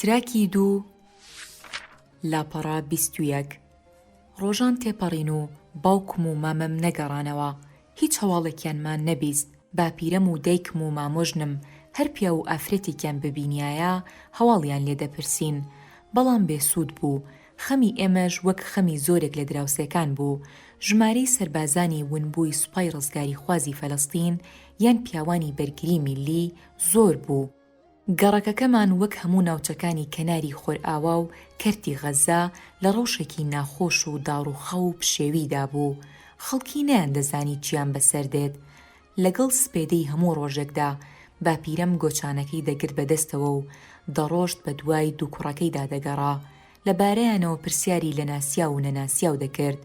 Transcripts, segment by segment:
تراکی دوو لاپەڕە بیست و یەک ڕۆژان تێپەڕین و باوکم و مامم نەگەڕانەوە، هیچ هەواڵێکیان مان نەبیست، باپیرەم و دایکم و مامۆژنم هەر پیاو و ئافرەتێکیان ببینیایە هەواڵیان لێ دەپرسین، بەڵام بێ سوود بوو، خەمی ئێمەش وەک خەمی زۆرێک لە دراوسێکان بوو، ژمارەی سەربازانی ونبووی سوپای ڕزگاریخوازی فەلەستین یان پیاوانی بەرگری میللی زۆر بوو، گەڕەکەکەمان وەک هەموو ناوچەکانی کەناری خۆرئاوا و کەرتی غەززە لە ڕەوشێکی ناخۆش و داڕووخاو و پشێویدا بوو، خەڵکی نەیاندەزانی چییان بەسەر دێت. لەگەڵ سپێدەی هەموو ڕۆژێکدا باپیرەم گۆچانەکەی دەگرت بە دەستەوە و دەڕۆشت بە دوای دوو کوڕەکەیدا دەگەڕا، لەبارەیانەوە پرسیاری لە ناسیاو و نەناسیاو دەکرد،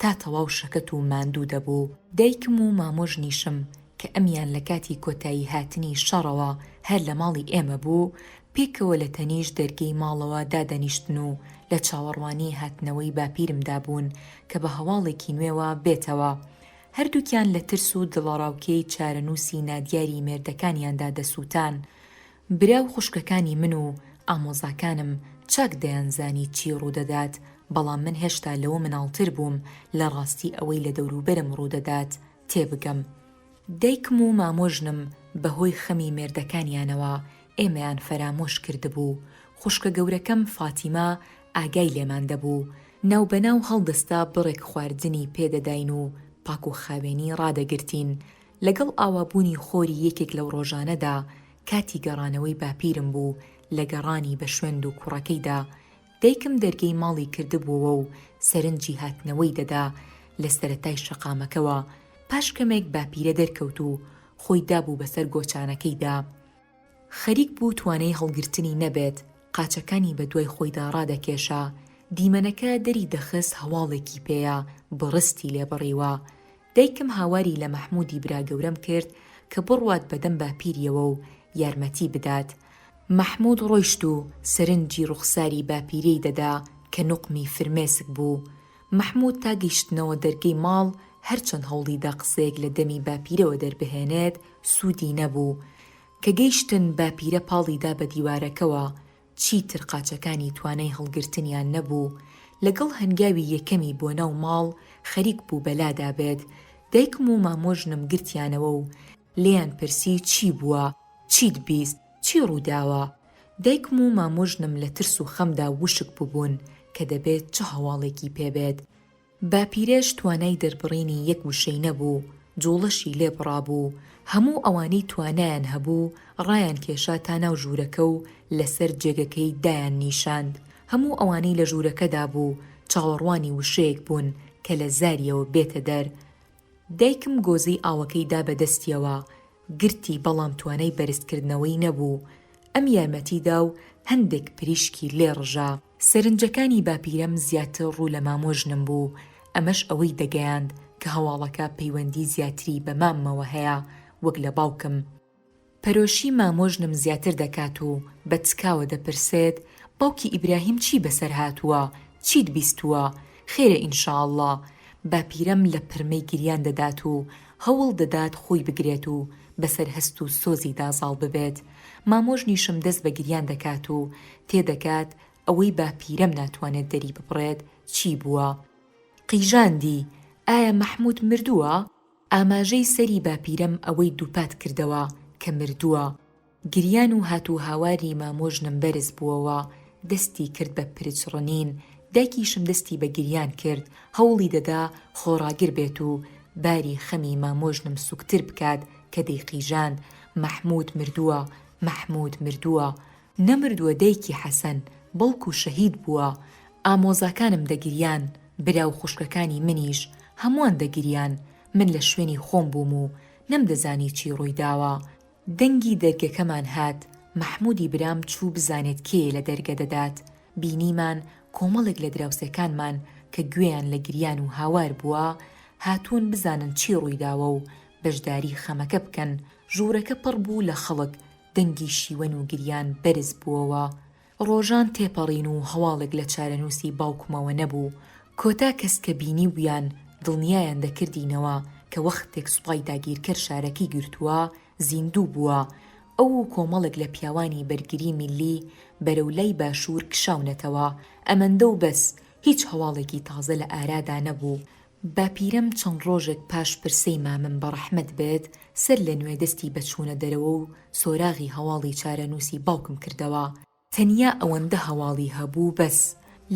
تا تەواو شەکەت و ماندوو دەبوو. دایکم و مامۆژنیشم کە ئەمیان لە کاتی کۆتایی هاتنی شەڕەوە هەر لە ماڵی ئێمە بوو، پێکەوە لە تەنیشت دەرگەی ماڵەوە دادەنیشتن و لە چاوەڕوانی هاتنەوەی باپیرمدا بوون کە بە هەواڵێکی نوێوە بێتەوە. هەردووکیان لە ترس و دڵەڕاوکێی چارەنووسی نادیاری مێردەکانیاندا دەسووتان. برا و خوشکەکانی من و ئامۆزاکانم چاک دەیانزانی چی ڕوودەدات، بەڵام من هێشتا لەوە مناڵتر بووم لە ڕاستی ئەوەی لە دەوروبەرم ڕوودەدات تێبگەم. دایکم و مامۆژنم بەهۆی خەمی مێردەکانیانەوە ئێمەیان فەرامۆش کردبوو. خوشکە گەورەکەم فاتیمە ئاگای لێمان دەبوو، ناوبەناو هەڵدەستا بڕێک خواردنی پێدەداین و پاکوخاوێنی ڕادەگرتین. لەگەڵ ئاوابوونی خۆری یەکێک لەو ڕۆژانەدا کاتی گەڕانەوەی باپیرم بوو، لە گەڕانی بە شوێن دووکوڕەکەیدا، دایکم دەرگەی ماڵی کردبووەوە و سەرنجی هاتنەوەی دەدا، لە سەرەتای شەقامەکەوە، پاش کەمێک باپیرە دەرکەوت و خۆی دابوو بەسەر گۆچانەکەیدا، خەریک بوو توانای هەڵگرتنی نەبێت، قاچەکانی بە دوای خۆیدا ڕادەکێشا، دیمەنەکە دەری دەخست هەواڵێکی پێیە، بڕستی لێ بڕیوە. دایکم هاواری لە مەحموودی براگەورەم کرد کە بڕوات بە دەم باپیریەوە و یارمەتی بدات. مەحموود ڕۆیشت و سەرنجی ڕوخساری باپیرەی دەدا کە نوقمی فرمێسک بوو. مەحموود تا گەیشتنەوە دەرگەی ماڵ هەرچەند هەوڵی دا قسەیەک لە دەمی باپیرەوە دەربهێنێت سوودی نەبوو. کە گەیشتن باپیرە پاڵی دا بە دیوارەکەوە. چیتر قاچەکانی توانای هەڵگرتنیان نەبوو، لەگەڵ هەنگاوی یەکەمی بۆ ناو ماڵ خەریک بوو بەلا دابێت، دایکم و مامۆژنم گرتیانەوە و لێیان پرسی چی بووە، چیت بیست، چی ڕووداوە؟ دایکم و مامۆژنم لە ترس و خەمدا وشک ببوون کە دەبێت چ هەواڵێکی پێ بێت، باپیرەش توانای دەربڕینی یەک وشەی نەبوو، جووڵەشی لێ بڕابوو، هەموو ئەوانەی توانایان هەبوو ڕایانکێشا تا ناو ژوورەکە و لەسەر جێگەکەی دایاننیشاند، هەموو ئەوانەی لە ژوورەکەدا بوو چاوەڕوانی وشەیەک بوون کە لە زارییەوە بێتە دەر. دایکم گۆزەی ئاوەکەی دا بە دەستییەوە، گرتی بەڵام توانای بەرزکردنەوەی نەبوو، ئەم یارمەتی دا و هەندێک پریشکی لێ ڕژا. سەرنجەکانی باپیرەم زیاتر ڕوو لە مام و ژنم بوو، ئەمەش ئەوەی دەگەیاند کە هەواڵەکە پەیوەندی زیاتری بە ماممەوە هەیە وەک لە باوکم. پەرۆشی مام و ژنم زیاتر دەکات و بە تکاوە دەپرسێت، باوکی ئیبراهیم چی بەسەر هاتووە، چیت بیستووە، خێرە ئینشاڵڵا؟ باپیرەم لە پرمەی گریان دەدات و هەوڵ دەدات خۆی بگرێت و بەسەر هەست و سۆزیدا زاڵ ببێت، مامۆژنیشم دەست بە گریان دەکات و تێدەگات ئەوەی باپیرەم ناتوانێت دەری ببڕێت چی بووە؟ قیژاندی، ئایا مەحموود مردووە؟ ئاماژەی سەری باپیرەم ئەوەی دووپات کردەوە کە مردووە. گریان و هاتوهاواری مامۆژنم بەرز بووەوە، دەستی کرد بە پرچ ڕنین، دایکیشم دەستی بە گریان کرد، هەوڵی دەدا خۆڕاگر بێت و باری خەمی مامۆژنم سوکتر بکات، کە دەیقیژاند مەحموود مردووە، مەحموود مردووە، نەمردووە دایکی حەسەن، بەڵکو شەهید بووە، ئامۆزاکانم دەگریان، برا و خوشکەکانی منیش، هەمووان دەگریان، من لە شوێنی خۆم بووم و نەمدەزانی چی ڕوویداوە، دەنگی دەرگەکەمان هات، مەحموودی برام چوو بزانێت کێیە لە دەرگە دەدات، بینیمان کۆمەڵێک لە دراوسێکانمان کە گوێیان لە گریان و هاوار بووە، هاتوون بزانن چی ڕوویداوە و بەشداری خەمەکە بکەن، ژوورەکە پڕ بوو لە خەڵک، دەنگی شیوەن و گریان بەرز بووەوە. ڕۆژان تێپەڕین و هەواڵێک لە چارەنووسی باوکمەوە نەبوو. کۆتا کەس کە بینیبوویان، دڵنیایان دەکردینەوە کە وەختێک سوپای داگیرکەر شارەکەی گرتووە، زیندوو بووە. ئەو و کۆمەڵێک لە پیاوانی بەرگری میللی بەرەو لای باشوور کشاونەتەوە. ئەمەندە و بەس، هیچ هەواڵێکی تازە لە ئارادا نەبوو. باپیرەم چەند ڕۆژێک پاش پرسەی مامم بەڕەحمەت بێت سەر لە نوێ دەستی بە چوونە دەرەوە و سۆراغی هەواڵی چارەنووسی باوکم کردەوە تەنیا ئەوەندە هەواڵی هەبوو بەس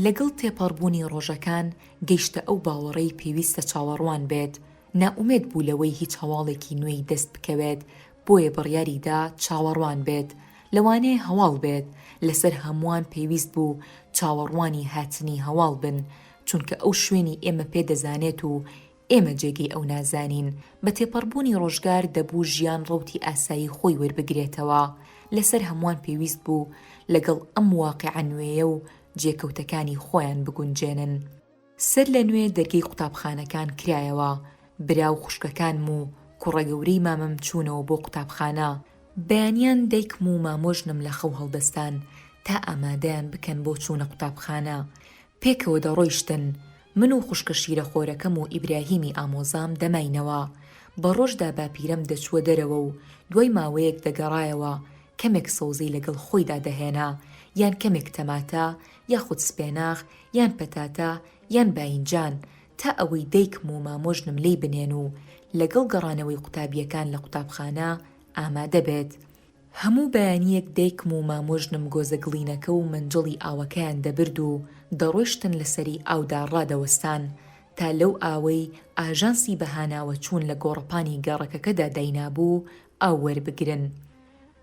لەگەڵ تێپەڕبوونی ڕۆژەکان گەیشتە ئەو باوەڕەی پێویستە چاوەڕوان بێت نائومێد بوو لەوەی هیچ هەواڵێکی نوێی دەست بکەوێت بۆیە بڕیاری دا چاوەڕوان بێت لەوانەیە هەواڵ بێت لەسەر هەمووان پێویست بوو چاوەڕوانی هاتنی هەواڵ بن چونکە ئەو شوێنی ئێمە پێ دەزانێت و ئێمە جێگەی ئەو نازانین، بە تێپەڕبوونی ڕۆژگار دەبوو ژیان ڕەوتی ئاسایی خۆی وەربگرێتەوە، لەسەر هەمووان پێویست بوو لەگەڵ ئەم واقیعە نوێیە و جێکەوتەکانی خۆیان بگونجێنن. سەر لە نوێ دەرگەی قوتابخانەکان کرایەوە، برا و خوشکەکانم و کوڕە گەورەی مامم چوونەوە بۆ قوتابخانە، بەیانیان دایکم و مامۆژنم لە خەو هەڵدەستان تا ئامادەیان بکەن بۆ چوونە قوتابخانە، پێکەوە دەڕۆیشتن، من و خوشکە شیرەخۆرەکەم و ئیبراهیمی ئامۆزام دەماینەوە. بە ڕۆژدا باپیرەم دەچووە دەرەوە و دوای ماوەیەک دەگەڕایەوە، کەمێک سەوزی لەگەڵ خۆیدا دەهێنا، یان کەمێک تەماتە، یاخود سپێناخ، یان پەتاتە، یان باینجان، تا ئەوەی دایکم و مامۆژنم لێی بنێن و لەگەڵ گەڕانەوەی قوتابییەکان لە قوتابخانە ئامادە بێت. هەموو بەیانییەک دایکم و مامۆژنم گۆزە گڵینەکە و مەنجەڵی ئاوەکەیان دەبرد و دەڕۆیشتن لە سەری ئاودا ڕادەوەستان تا لەو ئاوەی ئاژانسی بەهاناوەچوون لە گۆڕەپانی گەڕەکەکەدا داینابوو ئاو وەربگرن.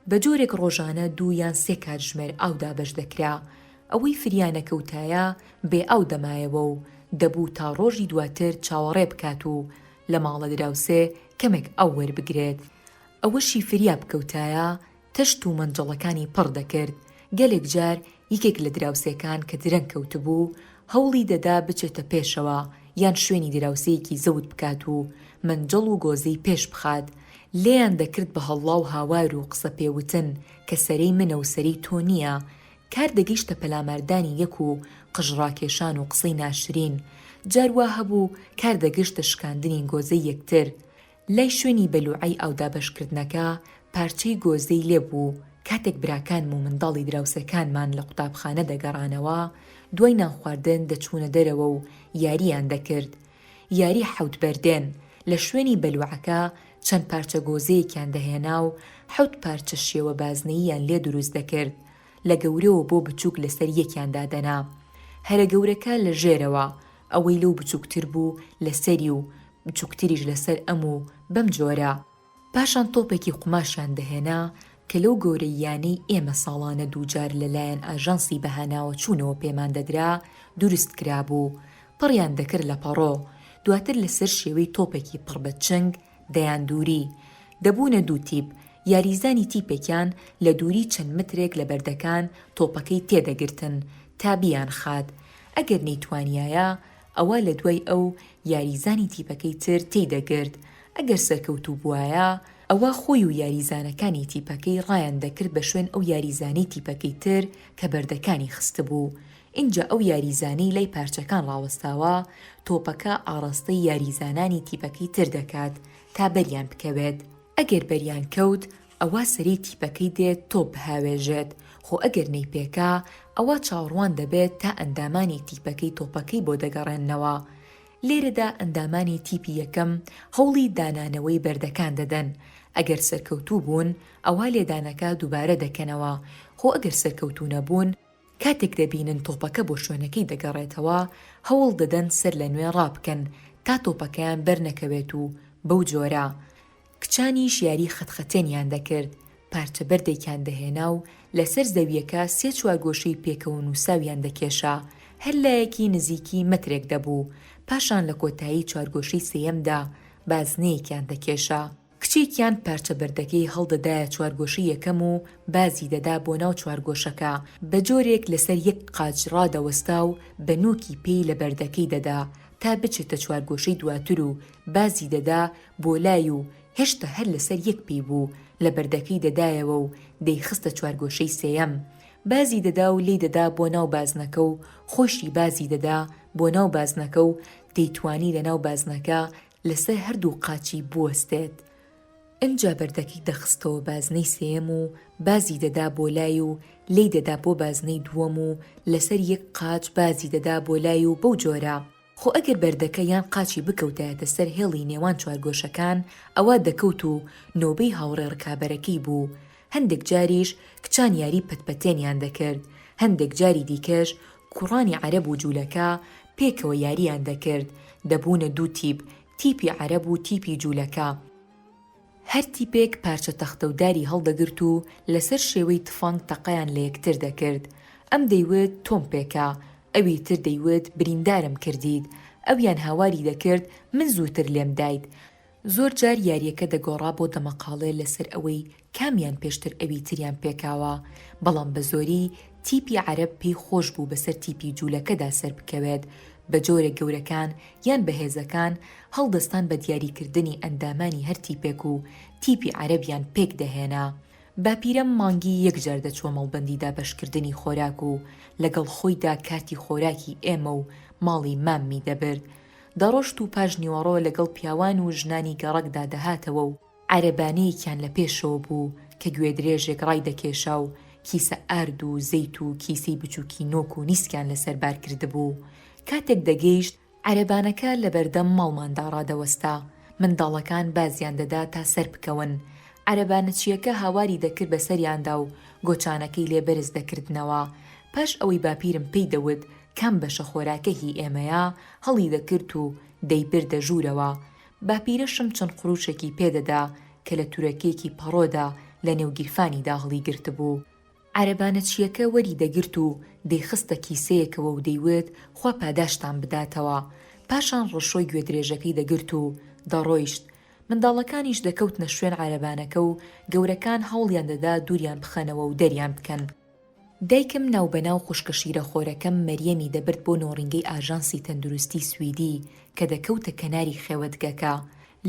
بە جۆرێک ڕۆژانە دوو یان سێ کاتژمێر ئاو دابەش دەکرا. ئەوەی فریانەکەوتایە بێ ئاو دەمایەوە و دەبوو تا ڕۆژی دواتر چاوەڕێ بکات و لە ماڵە دراوسێ کەمێک ئاو وەربگرێت. ئەوەشی فریاب کەوتایە تەشت و مەنجەڵەکانی پڕ دەکرد، گەلێک جار یەکێک لە دراوسێکان کە درەنگ کەوتبوو هەوڵی دەدا بچێتە پێشەوە یان شوێنی دراوسێیەکی زەوت بکات و مەنجەڵ و گۆزەی پێش بخات لێیان دەکرد بە هەڵڵا و هاوار و قسە پێ وتن کە سەرەی منە و سەرەی تۆ نییە کار دەگەیشتە پەلاماردانی یەک و قژ ڕاکێشان و قسەی ناشرین جار وا هەبوو کار دەگەشتە شکاندنی گۆزەی یەکتر لای شوێنی بەلوعەی ئاودابەشکردنەکە پارچەی گۆزەی لێ بوو و کاتێک براکانم و منداڵی دراوسێکانمان لە قوتابخانە دەگەڕانەوە دوای نانخواردن دەچوونە دەرەوە و یارییان دەکرد یاری حەوت بەردێن لە شوێنی بەلوعەکە چەند پارچە گۆزەیەکیان دەهێنا و حەوت پارچە شێوە بازنەییان لێ دروست دەکرد لە گەورەوە بۆ بچووک لەسەر یەکیان دادەنا هەرە گەورەکە لە ژێرەوە ئەوەی لەو بچووکتر بوو لەسەری و بچوکتریش لەسەر ئەم و بەم جۆرە. پاشان تۆپێکی قوماشیان دەهێنا کە لەو گەورەییانەی ئێمە ساڵانە دووجار لەلایەن ئاژانسی بەهاناوەچوونەوە پێمان دەدرا دروست کرابوو، پڕیان دەکرد لە پەڕۆ، دواتر لەسەر شێوەی تۆپێکی پڕ بە چنگ دەیان دووری. دەبوونە دوو تیپ، یاریزانی تیپێکیان لە دووری چەند مەترێک لە بەردەکان تۆپەکەی تێدەگرتن تا بیانخات، ئەگەر نەیتوانیایە ئەوا لە دوای ئەو یاریزانی تیپەکەی تر تێی دەگرت، ئەگەر سەرکەوتوو بوایە، ئەوا خۆی و یاریزانەکانی تیپەکەی ڕایان دەکرد بە شوێن ئەو یاریزانەی تیپەکەی تر کە بەردەکانی خستبوو، ئینجا ئەو یاریزانەی لای پارچەکان ڕاوەستاوە، تۆپەکە ئاڕاستەی یاریزانانی تیپەکەی تر دەکات تا بەریان بکەوێت، ئەگەر بەریان کەوت، ئەوا سەری تیپەکەی دێت تۆپ بهاوێژێت، خۆ ئەگەر نەیپێکا، ئەوا چاوەڕوان دەبێت تا ئەندامانی تیپەکەی تۆپەکەی بۆ دەگەڕێننەوە. لێرەدا ئەندامانی تیپی یەکەم هەوڵی دانانەوەی بەردەکان دەدەن، ئەگەر سەرکەوتوو بوون، ئەوا لێدانەکە دووبارە دەکەنەوە، خۆ ئەگەر سەرکەوتوو نەبوون، کاتێک دەبینن تۆپەکە بۆ شوێنەکەی دەگەڕێتەوە، هەوڵ دەدەن سەرلەنوێ ڕابکەن تا تۆپەکەیان بەرنەکەوێت و بەو جۆرە، کچانیش یاری خەتخەتێنیان دەکرد، پارچە بەردێکیان دەهێنا و لەسەر زەوییەکە سێ چوارگۆشەی پێکەوەنووساویان دەکێشا، هەر لایەکی نزیکی مەترێک دەبوو، پاشان لە کۆتایی چوارگۆشەی سێیەمدا بازنەیەکیان دەکێشا، کچێکیان پارچە بەردەکەی هەڵدەدایە چوارگۆشەی یەکەم و بازی دەدا بۆ ناو چوارگۆشەکە، بە جۆرێک لەسەر یەک قاچ ڕادەوەستا و بە نووکی پێی لە بەردەکەی دەدا تا بچێتە چوارگۆشەی دواتر و بازی دەدا بۆ لای و هێشتا هەر لەسەر یەک پێی بوو، لە بەردەکەی دەدایەوە و دەیخستە چوارگۆشەی سێیەم. بازی دەدا و لێی دەدا بۆ ناو بازنەکە و خۆیشی بازی دەدا بۆ ناو بازنەکە و دەیتوانی لە ناو بازنەکە لەسەر هەردوو قاچی بوەستێت. ئینجا بەردەکەی دەخستەوە بازنەی سێیەم و بازی دەدا بۆ لای و لێی دەدا بۆ بازنەی دووەم و لەسەر یەک قاچ بازی دەدا بۆ لای و بەو جۆرە. خۆ ئەگەر بەردەکە یان قاچی بکەوتایەتە سەر هێڵی نێوان چوارگۆشەکان، ئەوا دەکەوت و نۆبەی هاوڕێ ڕکابەرەکەی بوو، هەندێک جاریش کچان یاری پەتپەتێنیان دەکرد، هەندێک جاری دیکەش کوڕانی عەرەب و جوولەکە پێکەوە یارییان دەکرد، دەبوونە دوو تیپ، تیپی عەرەب و تیپی جوولەکە. هەر تیپێک پارچە تەختە و داری هەڵدەگرت و لەسەر شێوەی تفەنگ تەقەیان لە یەکتر دەکرد، ئەم دەیوت تۆم پێکە، ئەوی تر دەیوت بریندارم کردیت، ئەویان هاواری دەکرد من زووتر لێم دایت، زۆر جار یارییەکە دەگۆڕا بۆ دەمەقاڵێ لەسەر ئەوەی کامیان پێشتر ئەوی تریان پێکاوە، بەڵام بە زۆری تیپی عەرەب پێی خۆش بوو بەسەر تیپی جوولەکەدا سەربکەوێت، بە جۆرێک گەورەکان یان بەهێزەکان هەڵدەستان بە دیاریکردنی ئەندامانی هەر تیپێک و تیپی عەرەبیان پێک دەهێنا. باپیرەم مانگی یەک جار دەچووە مەڵبەندی دابەشکردنی خۆراک و لەگەڵ خۆیدا کارتی خۆراکی ئێمە و ماڵی ماممی دەبرد. دەڕۆشت و پاش نیوەڕۆ لەگەڵ پیاوان و ژنانی گەڕەکدا دەهاتەوە و، عەرەبانەیەکیان لە پێشەوە بوو کە گوێدرێژێک ڕایدەکێشا و کیسە ئارد و زەیت و کیسەی بچووکی نۆک و نیسکیان لەسەر بار کردبوو. کاتێک دەگەیشت عەرەبانەکە لە بەردەم ماڵماندا ڕادەوەستا، منداڵەکان بازیان دەدا تا سەر بکەون، عەرەبانەچییەکە هاواری دەکرد بە سەریاندا و گۆچانەکەی لێ بەرز دەکردنەوە. پاش ئەوەی باپیرم پێی دەوت کام بەشە خۆراکە هی ئێمەیە، هەڵی دەکرد و دەیبردە ژوورەوە. باپیرەشم چەند قرووشێکی پێ دەدا کە لە تورەکێکی پەڕۆدا لە نێو گیرفانیدا هەڵی گرتبوو. عەرەبانە چیەکە وەری دەگرت و دەیخستە کیسەیەکەوە و دەیوت خوا پاداشتان بداتەوە، پاشان ڕەشۆی گوێدرێژەکەی دەگرت و دەڕۆیشت، منداڵەکانیش دەکەوتنە شوێن عەرەبانەکە و گەورەکان هەوڵیان دەدا دووریان بخەنەوە و دەریان بکەن. دایکم ناوبەناو خوشکە شیرەخۆرەکەم مەریەمی دەبرد بۆ نۆڕینگەی ئاژانسی تەندروستی سویدی کە دەکەوتە کەناری خێوەتگەکە،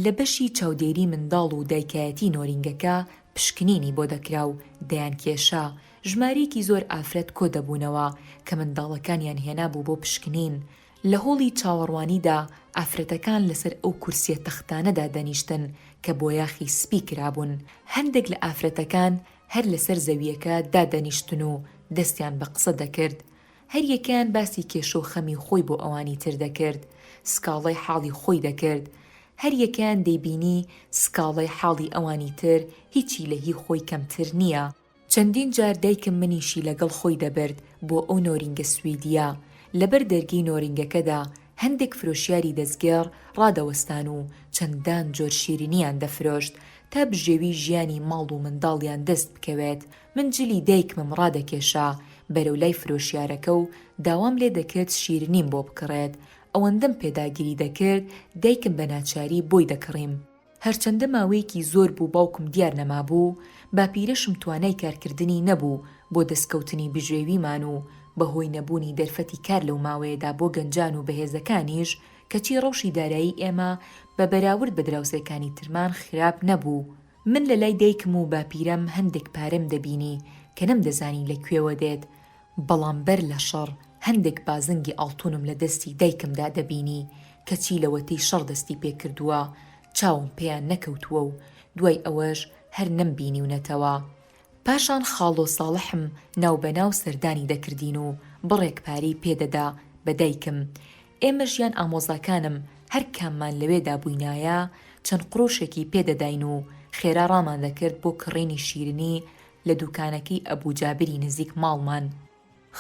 لە بەشی چاودێری منداڵ و دایکایەتی نۆرینگەکە پشکنینی بۆ دەکرا و دەیانکێشا، ژمارەیەکی زۆر ئافرەت کۆ دەبوونەوە کە منداڵەکانیان هێنابوو بۆ پشکنین، لە هۆڵی چاوەڕوانیدا ئافرەتەکان لەسەر ئەو کورسییە تەختانەدا دەنیشتن کە بۆیاخی سپی کرابوون، هەندێک لە ئافرەتەکان هەر لەسەر زەوییەکە دادەنیشتن و دەستیان بە قسە دەکرد، هەریەکەیان باسی کێشە و خەمی خۆی بۆ ئەوانی تر دەکرد، سکاڵای حاڵی خۆی دەکرد، هەریەکەیان دەیبینی سکاڵای حاڵی ئەوانی تر هیچی لە هی خۆی کەمتر نییە. چەندین جار دایکم منیشی لەگەڵ خۆی دەبرد بۆ ئەو نۆرینگە سویدییە، لەبەر دەرگەی نۆرینگەکەدا هەندێک فرۆشیاری دەستگێڕ ڕادەوەستان و چەندان جۆر شیرینییان دەفرۆشت تا بژێوی ژیانی ماڵ و منداڵیان دەست بکەوێت، من جلی دایکمم ڕادەکێشا بەرەو لای فرۆشیارەکە و داوام لێ دەکرد شیرنیم بۆ بکڕێت، ئەوەندەم پێداگیری دەکرد دایکم بە ناچاری بۆی دەکڕیم. هەرچەندە ماوەیەکی زۆر بوو باوکم دیار نەمابوو، باپیرەشم توانای کارکردنی نەبوو بۆ دەستکەوتنی بژێویمان و بە هۆی نەبوونی دەرفەتی کار لەو ماوەیەدا بۆ گەنجان و بەهێزەکانیش، کەچی ڕەوشی دارایی ئێمە بە بەراورد بە دراوسێکانی ترمان خراپ نەبوو، من لە لای دایکم و باپیرەم هەندێک پارەم دەبینی کە نەمدەزانی لە کوێوە دێت، بەڵام بەر لە شەڕ هەندێک بازنگی ئاڵتونم لە دەستی دایکمدا دەبینی، کەچی لەوەتەی شەڕ دەستی پێکردووە چاوم پێیان نەکەوتووە و دوای ئەوەش هەر نەمبینیونەتەوە. پاشان خاڵۆ ساڵحم ناو بە ناو سەردانی دەکردین و بڕێک پارەی پێ دەدا بە دایکم، ئێمەش یان ئامۆزاکانم هەر کاممان لەوێدا بووینایە چەند قروشێکی پێ دەداین و خێرا ڕامان دەکرد بۆ کڕینی شیرنی لە دووکانەکەی ئەبوو جابری نزیک ماڵمان.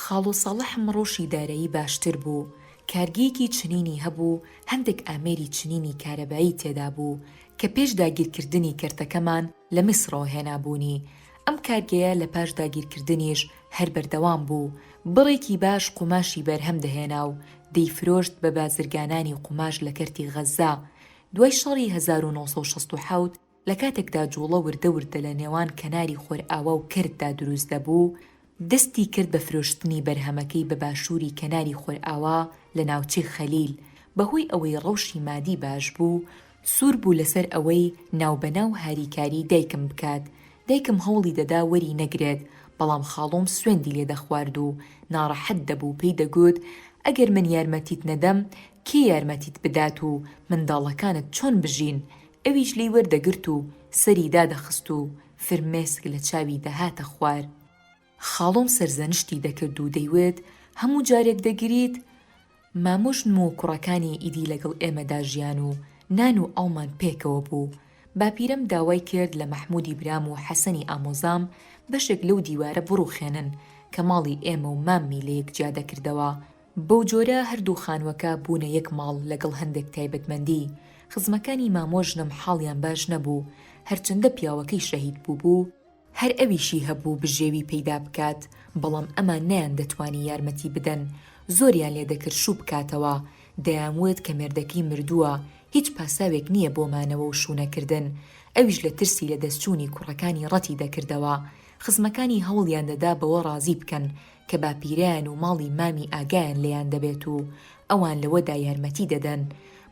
خاڵۆ ساڵح مڕۆشی دارایی باشتر بوو، کارگەیەکی چنینی هەبوو، هەندێک ئامێری چنینی کارەبایی تێدا بوو، کە پێش داگیرکردنی کەرتەکەمان لە میسڕەوە هێنابوونی. ئەم کارگەیە لە پاش داگیرکردنیش هەر بەردەوام بوو، بڕێکی باش قوماشی بەرهەم دەهێنا و دەیفرۆشت بە بازرگانانی قوماش لە کەرتی غەززە. دوای شەڕی هەزار و نۆ سەد و شەست و حەوت، لە کاتێکدا جووڵە وردە وردە لە نێوان کەناری خۆرئاوا و کەرتدا دروست دەبوو، دەستی کرد بە فرۆشتنی بەرهەمەکەی بە باشووری کەناری خۆرئاوا لە ناوچەی خەلیل، بەهۆی ئەوەی ڕەوشی مادی باش بوو، سوور بوو لەسەر ئەوەی ناوبەناو هاریکاریی دایکم بکات، دایکم هەوڵی دەدا وەری نەگرێت، بەڵام خاڵۆم سوێندی لێ دەخوارد و ناڕەحەت دەبوو، پێی دەگوت، ئەگەر من یارمەتیت نەدەم، کێ یارمەتیت بدات و منداڵەکانت چۆن بژین؟ ئەویش لێی وەردەگرت و سەری دادەخست و فرمێسک لە چاوی دەهاتە خوار. خاڵۆم سەرزەنشتی دەکرد و دەیوت، هەموو جارێک دەگریت؟ مامۆ ژن و کوڕەکانی ئیدی لەگەڵ ئێمەدا ژیان و نان و ئاومان پێکەوە بوو. باپیرەم داوای کرد لە مەحموودی برام و حەسەنی ئامۆزام بەشێک لەو دیوارە بڕووخێنن کە ماڵی ئێمە و ماممی لەیەک جیا دەکردەوە، بەو جۆرە هەردوو خانووەکە بوونە یەک ماڵ لەگەڵ هەندێک تایبەتمەندی، خزمەکانی مامۆ ژنم حاڵیان باش نەبوو، هەرچەندە پیاوەکەی شەهید بووبوو، هەر ئەویشی هەبوو بژێوی پەیدا بکات، بەڵام ئەمان نەیان دەتوانی یارمەتی بدەن، زۆریان لێ دەکرد شوو بکاتەوە، دەیان وت کە مێردەکەی مردووە، هیچ پاساوێک نییە بۆ مانەوە و شوونەکردن، ئەویش لە ترسی لەدەستچوونی کوڕەکانی ڕەتی دەکردەوە، خزمەکانی هەوڵیان دەدا بەوە ڕازی بکەن کە باپیرەیان و ماڵی مامی ئاگایان لێیان دەبێت و ئەوان لەوەدا یارمەتی دەدەن،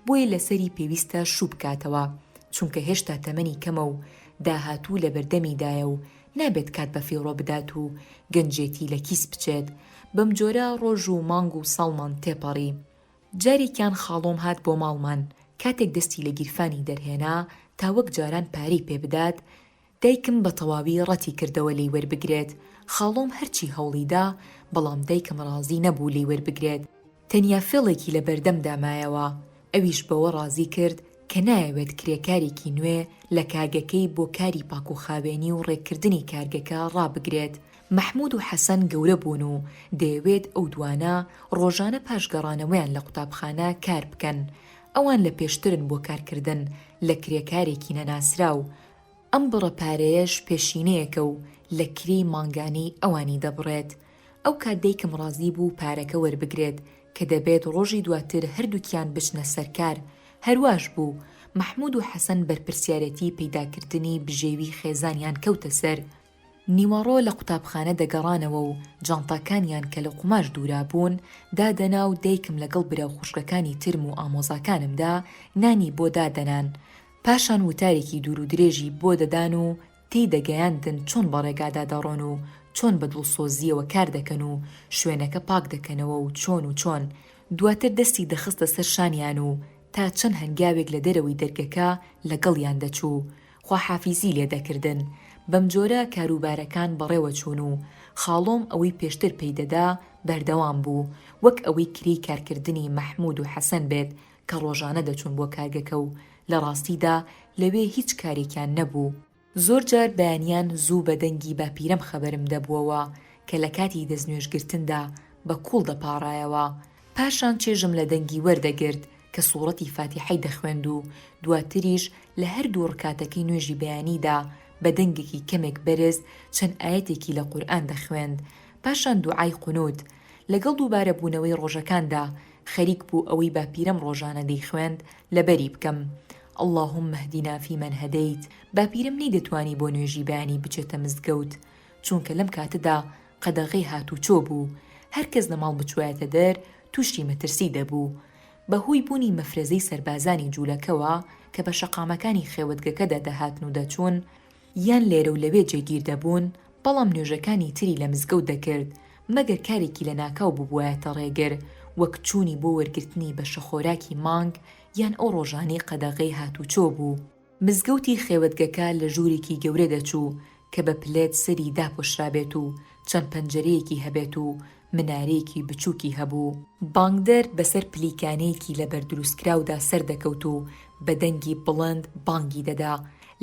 بۆیە لەسەری پێویستە شوو بکاتەوە، چونکە هێشتا تەمەنی کەمە و داهاتوو لەبەردەمیدایە و نابێت کات بەفیڕۆ بدات و گەنجێتی لە کیس بچێت، بەمجۆرە ڕۆژ و مانگ و ساڵمان تێپەڕی. جارێکیان خاڵۆم هات بۆ ماڵمان، کاتێک دەستی لە گیرفانی دەرهێنا تا وەک جاران پارەی پێبدات، دایکم بە تەواوی ڕەتی کردەوە لێی وەربگرێت، خاڵۆم هەرچی هەوڵی دا، بەڵام دایکم ڕازی نەبوو لێی وەربگرێت، تەنیا فێڵێکی لە بەردەمدا مایەوە، ئەویش بەوە ڕازی کرد کە نایەوێت کرێکارێکی نوێ لە کارگەکەی بۆ کاری پاکوخاوێنی و ڕێککردنی کارگەکە ڕابگرێت. مەحموود و حەسەن گەورە بوون و دەیەوێت ئەو دوانە ڕۆژانە پاش گەڕانەوەیان لە قوتابخانە کار بکەن، ئەوان لە پێشترن بۆ کارکردن لە کرێکارێکی نەناسراو، ئەم بڕە پارەیەش پێشینەیەکە و لە کرێی مانگانەی ئەوانی دەبڕێت. ئەو کات دایکم ڕازی بوو پارەکە وەربگرێت کە دەبێت ڕۆژی دواتر هەردووکیان بچنە سەر کار. هەرواش بوو. مەحموود و حەسەن بەرپرسیارێتی پەیداکردنی بژێوی خێزانیان کەوتە سەر. نیوەڕۆ لە قوتابخانە دەگەڕانەوە و جانتاکانیان کە لە قوماش دوورابوون، دادەنا و دایکم لەگەڵ برا و خوشکەکانی ترم و ئامۆزاکانمدا نانی بۆ دادەنان، پاشان وتارێکی دوورودرێژی بۆ دەدان و تێی دەگەیاندن چۆن بە ڕێگادا دەڕۆن و چۆن بە دڵسۆزییەوە کار دەکەن و شوێنەکە پاک دەکەنەوە و چۆن و چۆن، دواتر دەستی دەخستە سەر شانیان و تا چەند هەنگاوێک لە دەرەوەی دەرگەکە لەگەڵیان دەچوو خواحافیزی لێ دەکردن، بەم جۆرە کاروبارەکان بەڕێوە چوون و خاڵۆم ئەوەی پێشتر پێی دەدا بەردەوام بوو، وەک ئەوەی کرێی کارکردنی مەحموود و حەسەن بێت کە ڕۆژانە دەچوون بۆ کارگەکە و لە ڕاستیدا لەوێ هیچ کارێکیان نەبوو. زۆر جار بەیانیان زوو بە دەنگی باپیرەم خەبەرم دەبووەوە کە لە کاتی دەستنوێژگرتندا بە کوڵ دەپاڕایەوە، پاشان چێژم لە دەنگی وەردەگرت کە سوڕەتی فاتیحەی دەخوێند و دواتریش لە هەردوو ڕکاتەکەی نوێژی بەیانیدا بە دەنگێکی کەمێک بەرز چەند ئایەتێکی لە قورئان دەخوێند پاشان دوعای قونوت لەگەڵ دووبارە بوونەوەی ڕۆژەکاندا خەریک بوو ئەوەی باپیرەم ڕۆژانە دەیخوێند لەبەری بکەم اللهم اهدنا فی من هدیت باپیرەم نەیدەتوانی بۆ نوێژی بەیانی بچێتە مزگەوت چونکە لەم کاتەدا قەدەغەی هاتووچۆ بوو، هەر کەس لە ماڵ بچوایەتە دەر تووشی مەترسی دەبوو. بە هۆی بوونی مەفرەزەی سەربازانی جوولەکەوە کە بە شەقامەکانی خێوەتگەکەدا دەهاتن و دەچوون، یان لێرە و لەوێ جێگیر دەبوون، بەڵام نوێژەکانی تری لە مزگەوت دەکرد، مەگەر کارێکی لەناکاو ببوایەتە ڕێگر، وەک چوونی بۆ وەرگرتنی بەشەخۆراکی مانگ، یان ئەو ڕۆژانەی قەدەغەی هاتووچۆ بوو. مزگەوتی خێوەتگەکە لە ژوورێکی گەورە دەچوو کە بە پلێت سەری داپۆشرابێت و چەند پەنجەرەیەکی هەبێت و منارەیەکی بچووکی هەبوو، بانگدەر بەسەر پلیکانێکی لەبەر دروستکراودا سەردەکەوت و بە دەنگی بڵند بانگی دەدا،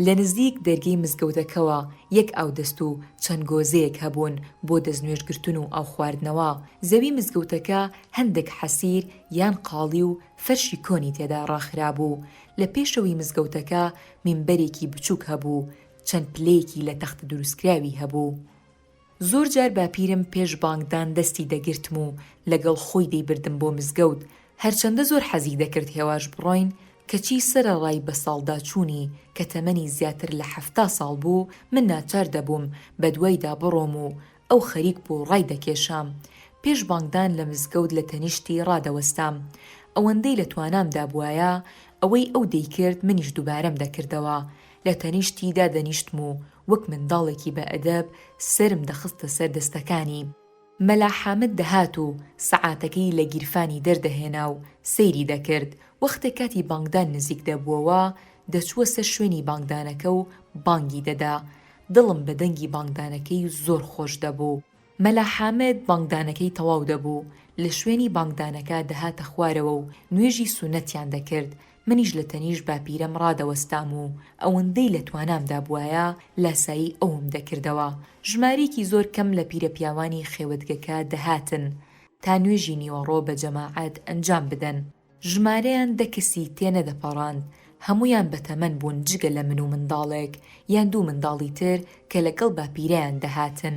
لە نزیک دەرگەی مزگەوتەکەوە یەک ئاودەست و چەند گۆزەیەک هەبوون بۆ دەستنوێژگرتن و ئاوخواردنەوە، زەوی مزگەوتەکە هەندێک حەسیر یان قاڵی و فەرشی کۆنی تێدا ڕاخرابوو، لە پێشەوەی مزگەوتەکە مینبەرێکی بچووک هەبوو، چەند پلەیەکی لە تەختە دروستکراوی هەبوو. زۆر جار باپیرم پێش بانگدان دەستی دەگرتم و لەگەڵ خۆی دەیبردم بۆ مزگەوت، هەرچەندە زۆر حەزی دەکرد هێواش بڕۆین، کەچی سەرەڕای بەساڵداچوونی کە تەمەنی زیاتر لە حەفتا ساڵ بوو، من ناچار دەبووم بەدوایدا بڕۆم و ئەو خەریک بوو ڕای دەکێشام. پێش بانگدان لە مزگەوت لە تەنیشتی ڕادەوەستام. ئەوەندەی لە توانامدا بوایە، ئەوەی ئەو دەیکرد منیش دووبارەم دەکردەوە. لە تەنیشتی دادەنیشتم و وەک منداڵێکی بە ئەدەب سەرم دەخستە سەر دەستەکانی. مەلا حامد دەهات و سەعاتەکەی لە گیرفانی دەردەهێنا و سەیری دەکرد. وەختێ کاتی بانگدان نزیک دەبووەوە، دەچووە سەر شوێنی بانگدانەکە و بانگی دەدا. دڵم بە دەنگی بانگدانەکەی زۆر خۆش دەبوو. مەلا حامد بانگدانەکەی تەواو دەبوو، لە شوێنی بانگدانەکە دەهاتە خوارەوە و نوێژی سوننەتیان دەکرد، منیش لە تەنیشت باپیرەم ڕادەوەستام و ئەوەندەی لە توانامدا بوایە لاسایی ئەوم دەکردەوە. ژمارەیەکی زۆر کەم لە پیرەپیاوانی خێوەتگەکە دەهاتن تا نوێژی نیوەڕۆ بە جەماعەت ئەنجام بدەن. ژمارەیان دە کەسی تێنەدەپەڕاند، هەموویان بەتەمەن بوون جگە لە من و منداڵێک یان دوو منداڵی تر کە لەگەڵ باپیرەیان دەهاتن،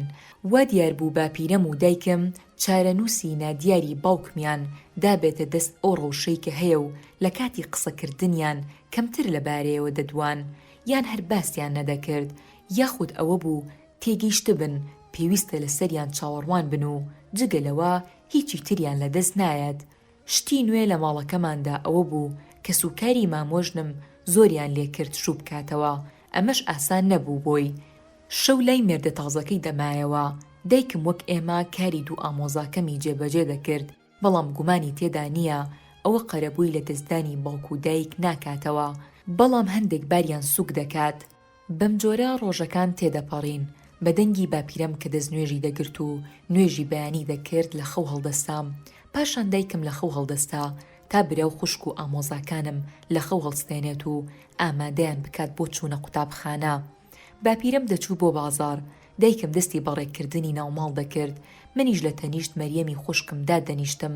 وا دیار بوو باپیرەم و دایکم چارەنووسی نادیاری باوکمیان دابێتە دەست ئەو ڕەوشەی کە هەیە و لە کاتی قسەکردنیان کەمتر لە بارەیەوە دەدوان یان هەر باسیان نەدەکرد یاخود ئەوە بوو تێگەیشتبن پێویستە لەسەریان چاوەڕوان بن و جگە لەوە هیچی تریان لەدەست نایەت شتی نوێ لە ماڵەکەماندا ئەوە بوو کەسوکاری مامۆژنم زۆریان لێ کرد شوو بکاتەوە، ئەمەش ئاسان نەبوو بۆی. شەو لای مێردە تازەکەی دەمایەوە. دایکم وەک ئێمە کاری دوو ئامۆزاکەمی جێبەجێ دەکرد، بەڵام گومانی تێدا نییە ئەوە قەرەبووی لەدەستدانی باوک و دایک ناکاتەوە، بەڵام هەندێک باریان سووک دەکات. بەمجۆرە ڕۆژەکان تێدەپەڕین، بە دەنگی باپیرەم کە دەستنوێژی دەگرت و نوێژی بەیانی دەکرد لە خەو هەڵدەستام، پاشان دایکم لە خەو هەڵدەستا تا برا و خوشک و ئامۆزاکانم لە خەو هەڵستێنێت و ئامادەیان بکات بۆ چوونە قوتابخانە. باپیرەم دەچوو بۆ بازاڕ، دایکم دەستی بە ڕێکردنی ناوماڵ دەکرد، منیش لە تەنیشت مەریەمی خوشکم دادەنیشتم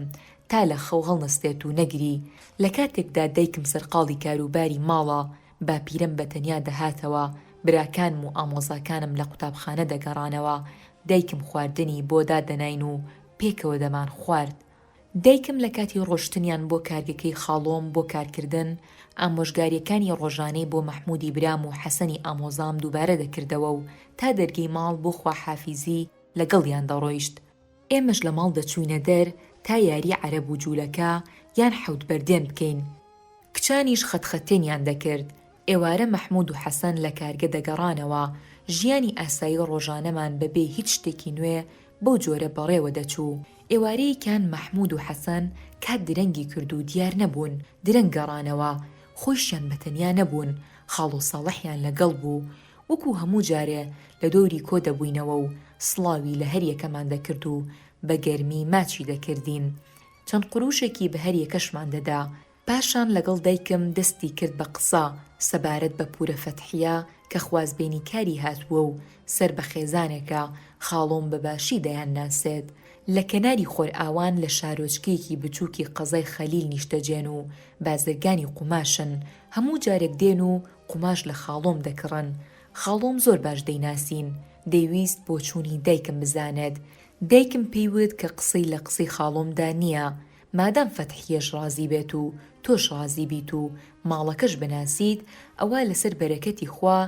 تا لە خەو هەڵنەستێت و نەگری، لە کاتێکدا دایکم سەرقاڵی کاروباری ماڵە، باپیرەم بە تەنیا دەهاتەوە، براکانم و ئامۆزاکانم لە قوتابخانە دەگەڕانەوە، دایکم خواردنی بۆ دادەناین و پێکەوە دەمانخوارد. دایکم لە کاتی ڕۆشتنیان بۆ کارگەکەی خاڵۆم بۆ کارکردن، ئامۆژگارییەکانی ڕۆژانەی بۆ مەحموودی برام و حەسەنی ئامۆزام دووبارە دەکردەوە و تا دەرگەی ماڵ بۆ خواحافیزی لەگەڵیان دەڕۆیشت. ئێمەش لە ماڵ دەچووینە دەر تا یاری عەرەب و جوولەکە یان حەوت بەردێن بکەین. کچانیش خەتخەتێنیان دەکرد. ئێوارە مەحموود و حەسەن لە کارگە دەگەڕانەوە. ژیانی ئاسایی ڕۆژانەمان بە بێ هیچ شتێکی نوێ بەو جۆرە بەڕێوە دەچوو. ئێوارەیەکیان مەحموود و حەسەن کات درەنگی کرد و دیار نەبوون. درەنگ گەڕانەوە. خۆیشیان بە تەنیا نەبوون. خاڵۆ ساڵحیان لەگەڵ بوو. وەکو هەموو جارێ لە دەوری کۆ دەبووینەوە و سڵاوی لە هەر یەکەمان دەکرد و بە گەرمی ماچی دەکردین. چەند قرووشێکی بە هەر یەکەشمان دەدا. پاشان لەگەڵ دایکم دەستی کرد بە قسە سەبارەت بە پوورە فەتحیە کە خوازبێنی کاری هاتووە و سەر بە خێزانێکە، خاڵۆم بە باشی دەیان ناسێت. لە کەناری خۆرئاوان لە شارۆچکەیەکی بچووکی قەزای خەلیل نیشتەجێن و بازرگانی قوماشن. هەموو جارێک دێن و قوماش لە خاڵۆم دەکڕن. خاڵۆم زۆر باش دەیناسین. دەیویست بۆچوونی دایکم بزانێت. دایکم پێی وت کە قسەی لە قسەی خاڵۆمدا نییە. مادام فەتحییەش ڕازی بێت و تۆش ڕازی بیت و ماڵەکەش بناسیت، ئەوا لەسەر بەرەکەتی خوا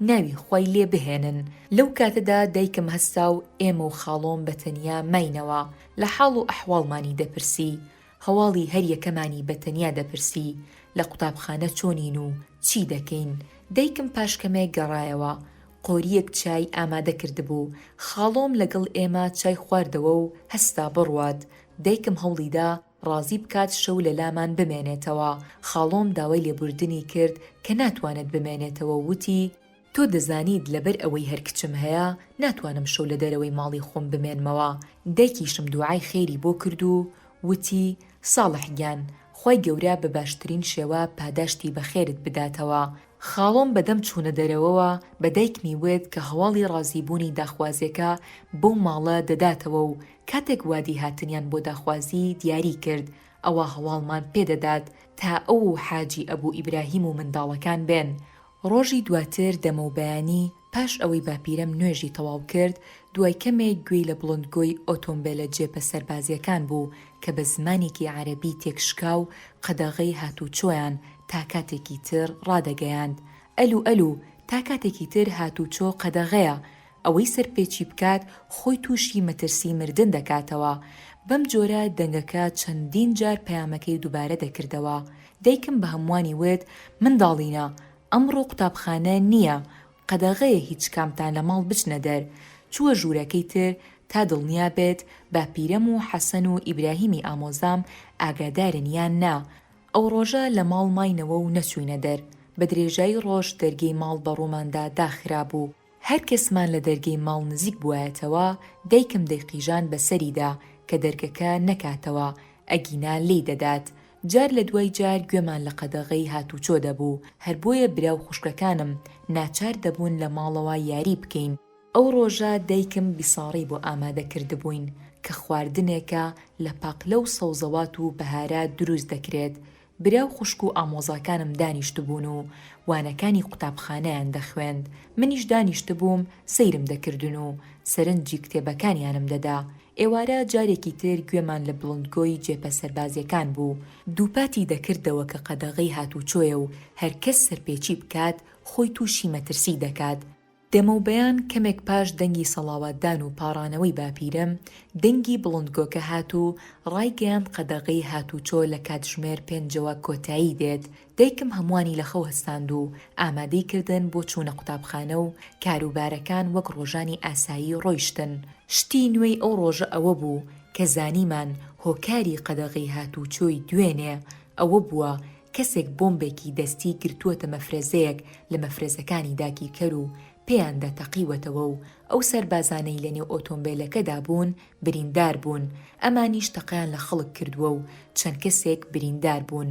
ناوی خوای لێ بهێنن. لەو کاتەدا دایکم هەستا و ئێمە و خاڵۆم بە تەنیا ماینەوە. لە حاڵ و ئەحواڵمانی دەپرسی. هەواڵی هەر یەکەمانی بە تەنیا دەپرسی لە قوتابخانە چۆنین و چی دەکەین، دایکم پاش کەمێک گەڕایەوە، قۆریەک چای ئامادە کردبوو، خاڵۆم لەگەڵ ئێمە چای خواردەوە و هەستا بڕوات، دایکم هەوڵیدا ڕازی بکات شەو لە لامان بمێنێتەوە، خاڵۆم داوای لێبوردنی کرد کە ناتوانێت بمێنێتەوە و وتی، تۆ دەزانیت لەبەر ئەوەی هەر کچم هەیە ناتوانم شەو لە دەرەوەی ماڵی خۆم بمێنمەوە، دایکیشم دوعای خێری بۆ کرد و وتی، ساڵح گیان خوای گەورە بە باشترین شێوە پاداشتی بە خێرت بداتەوە، خاڵۆم بەدەم چوونە دەرەوەوە بە دایکمی وت کە هەواڵی ڕازی بوونی داخوازێکە بەو ماڵە دەداتەوە و کاتێک وادی هاتنیان بۆ داخوازی دیاری کرد ئەوا هەواڵمان پێ دەدات تا ئەو و حاجی ئەبو ئیبراهیم و منداڵەکان بێن ڕۆژی دواتر دەمەوبەیانی پاش ئەوەی باپیرەم نوێژی تەواو کرد، دوای کەمێک گوێی لە بڵندگۆی ئۆتۆمبێلە جێپە سەربازییەکان بوو کە بە زمانێکی عەرەبی تێکشکاو قەدەغەی هاتووچۆیان تا کاتێکی تر ڕادەگەیاند، ئەلو ئەلو، تا کاتێکی تر هاتووچۆ قەدەغەیە، ئەوەی سەرپێچی بکات خۆی تووشی مەترسی مردن دەکاتەوە. بەم جۆرە دەنگەکە چەندین جار پەیامەکەی دووبارە دەکردەوە. دایکم بە هەمووانی وت، منداڵینە، ئەمڕۆ قوتابخانە نییە، قەدەغەیە هیچ کامتان لە ماڵ بچنە دەر. چووە ژوورەکەی تر تا دڵنیا بێت باپیرەم و حەسەن و ئیبراهیمی ئامۆزام ئاگادارن یان نا. ئەو ڕۆژە لە ماڵ ماینەوە و نەچووینە دەر. بە درێژایی ڕۆژ دەرگەی ماڵ بە ڕووماندا داخرابوو. هەر کەسمان لە دەرگەی ماڵ نزیک بوایەتەوە دایکم دەیقیژان بە سەریدا کە دەرگەکە نەکاتەوە ئەگینا لێی دەدات، جار لە دوای جار گوێمان لە قەدەغەی هاتوچۆ دەبوو، هەر بۆیە برا و خوشکەکانم ناچار دەبوون لە ماڵەوە یاری بکەین. ئەو ڕۆژە دایکم بیساڕی بۆ ئامادە کردبووین کە خواردنێکە لە پاقلە و سەوزەوات و بەهارات دروست دەکرێت برا و خوشک و ئامۆزاکانم دانیشتبوون و وانەکانی قوتابخانەیان دەخوێند، منیش دانیشتبووم سەیرم دەکردن و سەرنجی کتێبەکانیانم دەدا، ئێوارە جارێکی تر گوێمان لە بڵندگۆی جێپە سەربازییەکان بوو، دووپاتی دەکردەوە کە قەدەغەی هاتووچۆیە و هەرکەس سەرپێچی بکات خۆی تووشی مەترسی دەکات، دەمەوبەیان کەمێک پاش دەنگی سەڵاواتدان و پاڕانەوەی باپیرەم، دەنگی بڵندگۆکە هات و ڕایگەیاند قەدەغەی هاتووچۆ لە کاتژمێر پێنجەوە کۆتایی دێت، دایکم هەمووانی لە خەو هەستاند و ئامادەی کردن بۆ چوونە قوتابخانە و کاروبارەکان وەک ڕۆژانی ئاسایی ڕۆیشتن، شتی نوێی ئەو ڕۆژە ئەوە بوو کە زانیمان هۆکاری قەدەغەی هاتووچۆی دوێنێ ئەوە بووە کەسێک بۆمبێکی دەستی گرتووەتە مەفرەزەیەک لە مەفرەزەکانی داگیرکەر و پێیاندا تەقیوەتەوە و ئەو سەربازانەی لەنێو ئۆتۆمبێلەکەدا بوون بریندار بوون، ئەمانیش تەقەیان لە خەڵک کردووە و چەند کەسێک بریندار بوون.